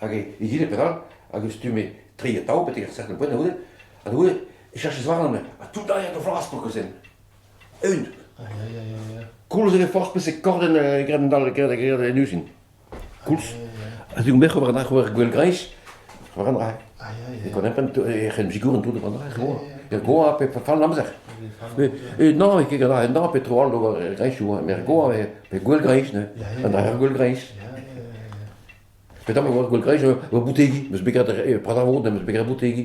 Hag egile perak hag e stume tri atav betek ar cercle poent a-oude, ha da goude e chachas warnan ha tout a rea da vras pa kozen. Eun. Koulz eo forzh peseurt korden e grennendall e grennendall en uzin. Koulz. Ha digon bec'h ober an ober gwell-greiz, ober an dra. E konempen e c'hen zigouren tout ober an dra. E goa pe fall amzer. E non, e ket gant ar en pe tro all d'ober greiz, met goa pe gwell-greiz, ne. An dra gwell-greiz. Petra 'vo gwall greñch ur boutegi, 'm eus bet graet re pradañ 'm eus bet graet boutegi.